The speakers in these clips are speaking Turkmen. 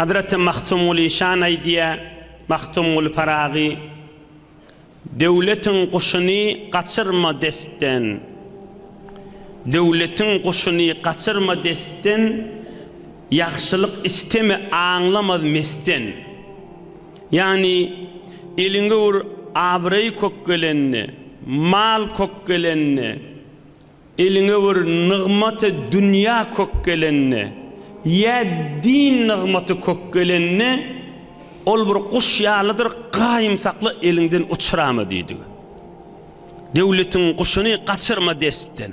Hazraty Magtymguly şan aýdýar, Magtymguly Pyragy, Döwletiň guşuny gaçyrma destden, Döwletiň guşuny gaçyrma destden, Ýagşylyk isteme aňlamaz mesden. Ýagny, eliňe bir abraý kök gelende, mal kök gelende, Eliňe bir nygmaty dünýä kök gelende ýa din nygmaty kök gelende, ol bir guş ýalydyr, gaýym sakla, eliňden uçurama diýdigi. Döwletiň guşuny gaçyrma destden.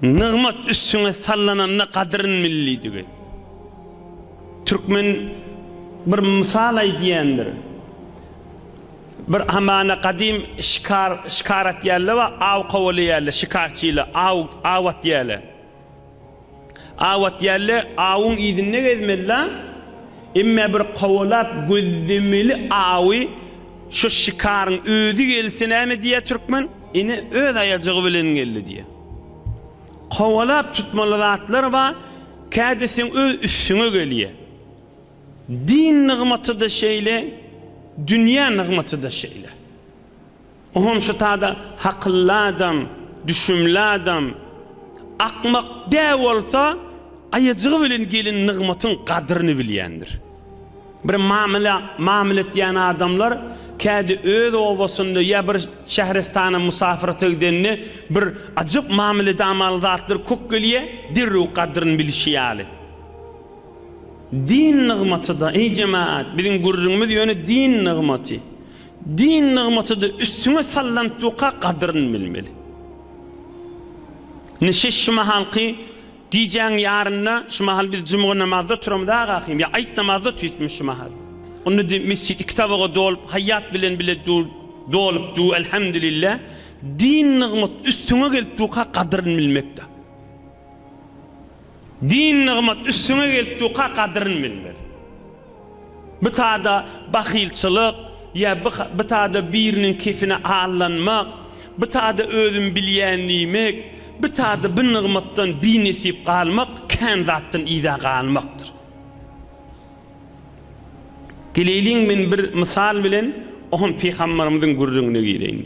Nygmat üstüňe sallananda gadryn bil diýdigi. Türkmen bir mysal aýdýandyr. Bir hamana gadym şikar şikar atýarlar we aw kowalaýarlar, şikarçylar aw aw atýarlar. Aw atýarlar, awuň yzynda gezmeliler, emma bir kowalap gözlemeli awy şo şikaryň özi gelse näme diýýär türkmen, ine öz aýajygy bilen geldi diýýär. Kowalap tutmaly zatlar bar, kädi seň öz üstüňe gelýär. Din nygmaty-da şeýle, dünýä nygmaty-da şeýle. O hem şu tada hakylly adam, düşümli adam, akmak dä bolsa, aýajygy bilen gelen nygmatyň gadyryny bilýändir. Bir mamyla mamyl etýän adamlar kädi öz obasynda ýa bir şähristana musafyrata gidende bir ajyp mamyl edamaly zatlar kök gelýär, derrew gadyryny bilişi ýaly. Din nygmaty-da, eý jemagat, biziň gürrüňimiz ýöne din nygmaty. Din nygmaty-da üstüňe salnan tuka gadyryny bilmeli. Ine, şeş şu mahalky gijäň ýarynda, şu mahal biz jumga namazda turamyz agahym, ýa aýt namazda otyrysmy şu mahal? Onda-da mesjit iki tabaga dolup, haýýat bilen bile dolup dur, elhemdülillah. Din nygmat üstüňe gelip durka gadyryny bilmek-de. Din nygmat üstüňe geltduka gadryn bilmeli. Bitada bahylçylyk ýa bitada biriniň kefine allanmak, bitada özüm bilýän diýmek, bitada bi nygmatdan binesip galmak kän zatdan yza galmakdyr. Geleýliň men bir mysal bilen, o hem Pygamberimiziň gürrüňine gireýin.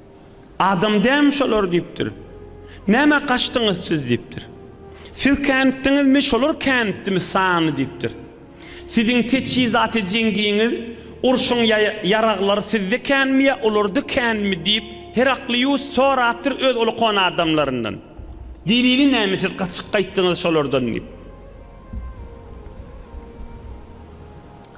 Adam dämi şolar diýipdir. Nämä gaçdyňyz siz diýipdir. Siz känitdiňizmi, şolar känitdimi sany diýipdir. Siziň teçhizaty jeňgiňiz, urşuň ýaraglary sizde känmi ýa olarda känmi diýip, Heraklius sorapdyr öz uly kona adamlaryndan. Delili näme siz gaçyp gaýtdyňyz şolardan diýip.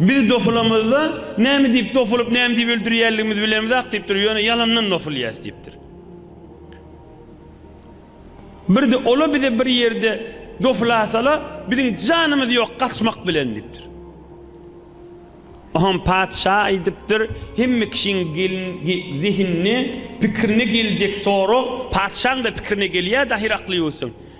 Biz dofulamyzda, Näme diýip dofulyp, näme diýip öldürýänligimizi bilemizok diýipdir, ýöne ýalandan dofulýas diýipdir. Birde ola bize bir ýerde dofulasalar, biziň janymyz ýok, gaçmak bilen diýipdir. Oňam patyşa aýdypdyr, Hemme kişiň zehinine, pikirine geljek sorag patyşaň-da pikirine gelýär, dahyr akly ýuwsun.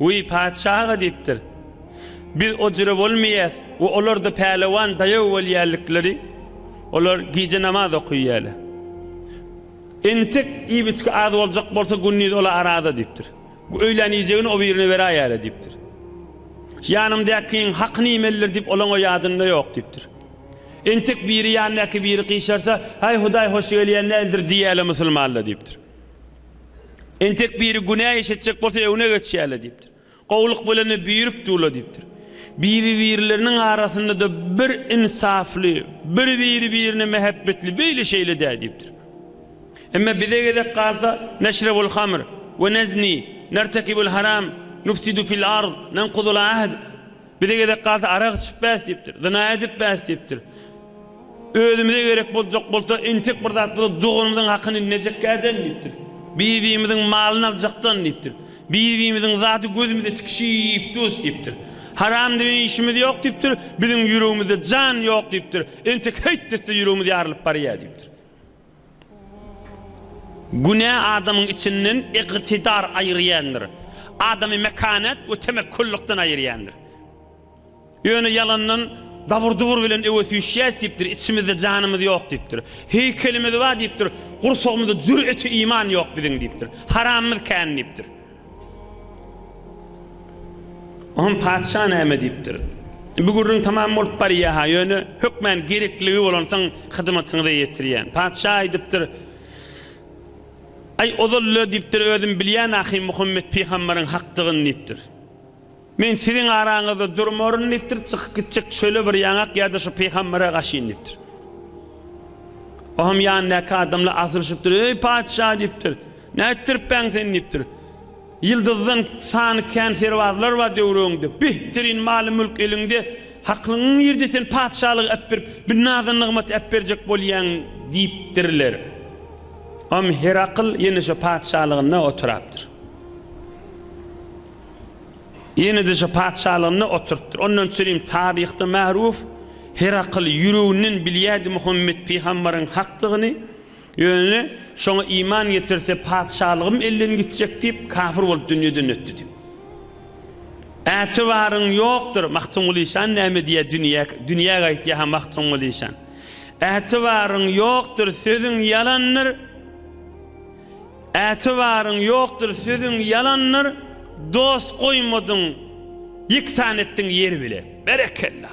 Wiý, patyşa aga diýipdir. Biz ojüre bolmaýas we olarda pälewan daýaw bolýalikleri, olar gije namaz okyýaler. Entek iýip-içgi az boljak bolsa gündiz ola araza diýipdir. Öýlän iýjegini o birine beräýäle diýipdir. Ýanymdakyň hakyny iýmelidir diýip olaň-a ýadynda ýok diýipdir. Entek biri ýandaky biri gyşarsa, Haý Hudaý hoş gelýän däldir diýýäle musulmanla diýipdir. Entek biri günä iş etjek bolsa öňüne geçýärler diýipdir. Gowulyk bilen-de büýrüp durlar diýipdir. Biri-birleriniň arasynda-da bir ynsafly, bir biri-birine mähebbetli beýle-şeýle-dä diýipdir. Emma bize gezek galsa, Neşrebul hamr we nezni, nertekibul haram, nufsidu fil ard, nenkudul ahd, Bize gezek galsa arak içip bäs diýipdir, zyna edip bäs diýipdir. Özümize gerek boljak bolsa entek bir zat bolsa doganymyzyň hakyny nejekkäden diýipdir. Bir-birimiziň malyny aljakdan diýipdir. Bir-birimiziň zady gözümize tikişip dus diýipdir. Haram diýen işimiz ýok diýipdir, biziň ýüregimizde jan ýok diýipdir. Entek heýt desse ýüregimiz ýarylyp barýar diýipdir. Günä adamyň içinden ygtydar aýyrýandyr. Adamy mekanet we temekkullykdan aýyrýandyr. Ýöne ýalandan dabur-dubur bilen öe süýşýäs diýipdir, içimizde janymyz ýok diýipdir. Heýkelimiz bar diýipdir, gursagymyzda jüreti iman ýok biziň diýipdir. Haramymyz kän diýipdir. Onsoň patyşa näme diýipdir? Bu gürrüň tamam bolup barýa-ha, ýöne hökmän gerekligi bolansoň hyzmatyňyza ýetirýän. Patyşa aýdypdyr, Aý, ozal-le, diýipdir, özüm bilýän ahym Muhammet pygambaryň hakdygyny diýipdir. Men siziň araňyzda durmaryn diýipdir, çykyp gitjek çöle bir ýaňak ýa-da şu pygambere gaşyn diýipdir. O hem ýanyndaky adamlar asylyşypdyr, Eý, patyşa diýipdir, nätdiripbäň sen diýipdir. Ýyldyzdan sany kän serbazlar bar döwreginde, bihtirin maly-mülk eliňde, haklygyň nirde sen patyşalygy äpdirip, bir naza-nygmat äpberjek bolýaň diýipdirler. O hem Herakl ýene şo patyşalygynda oturapdyr. Ýene-de şu patyşalygynda oturypdyr. Ondan çyryň taryhda märuw Herakl ýüreginden bilýärdi Muhammet pygamberiň hakdygyny, ýöne şoňa iman getirse patyşalygym elden gitjek diýip kafir bolup dünýeden ötdi diýip. Ätibaryň ýokdur Magtymguly şan näme diýýär dünýä dünýä gaýtýar ha Magtymguly şan. Ätibaryň ýokdur sözüň ýalandyr. Ätibaryň ýokdur sözüň ýalandyr dost goýmadyň ýeksan etdiň ýer bile. Berekella.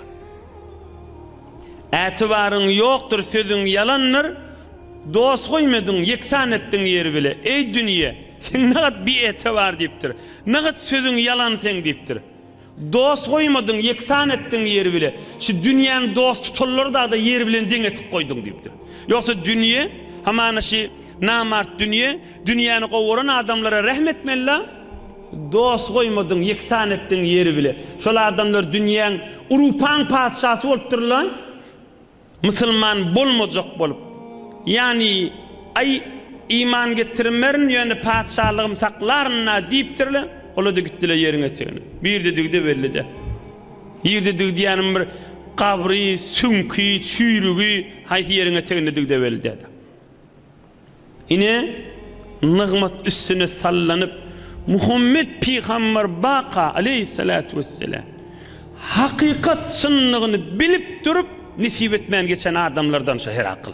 Ätibaryň ýokdur sözüň ýalandyr dost goýmadyň ýeksan etdiň ýer bile. Eý dünýe seň nagat bi etibar diýipdir. Nagat sözüň ýalan seň diýipdir. Dost goýmadyň, ýeksan etdiň ýer bile. Şu dünýäň dost tutanlary dagda ýer bilen deň etip goýduň diýipdir. Ýogsa dünýe, hamana şi namart dünýe, dünýäni gowaran adamlara rähm etmeli-la. Dost goýmadyň, ýeksan etdiň ýer bile. Şol adamlar dünýäň urupaň patyşasy bolupdyr-la. Musulman bolmajak bolup, ýagny, Aý, iman getirmerin, ýöne patyşalygym saklaryn-a diýipdir-le, ola-da gitdi-le ýeriň etegine. Bu ýerde dygdy belli-dä. Ýerde dygdy diýýänim bir gabry, süňki, çüýrügi haýsy ýeriň eteginde dygdy belli däl-ä. Ine, nygmat üstüne sallanyp, Muhammet pygamber baka, aleýhissalatu wesselam, hakykat çynlygyny bilip durup, nesip etmän geçen adamlardan şo Herakyl.